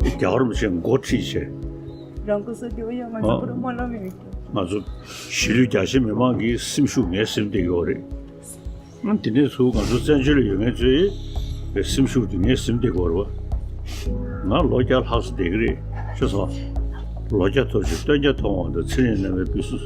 རྒྱ་གར་བ་ཆེན་མགོ་ཁྲིད་ཆེ། རང་སྐུ་སོ་རྒྱུ་བ་ཡང་ང་ཚོ་བུ་རུ་མ་ལ་མི་རིགས་ཀྱི། ང་ཚོ་གཞིས་ལུས་རྒྱ་ཆེ་མི་མང་གི་སེམས་ཤུགས་ངའི་སེམས་དེ་ཡོད་རེད། དེ་ནས་ཚུར་ང་ཚོ་བཙན་བྱོལ་ལ་ཡོད་མཁན་ཚོའི་སེམས་ཤུགས་དེ་ངའི་སེམས་དེ་གོ་རེད། ང་ལོ་བརྒྱ་ལྷག་བསྡད་ཀྱི་རེད། ཆོས་ཚང། ལོ་བརྒྱ་ཐོབ་ཅིང་སྟོན་བརྒྱ་ཐོང་བ་འདི་ཚེ་རིང་རྣམ་པའི་བུ་སུ།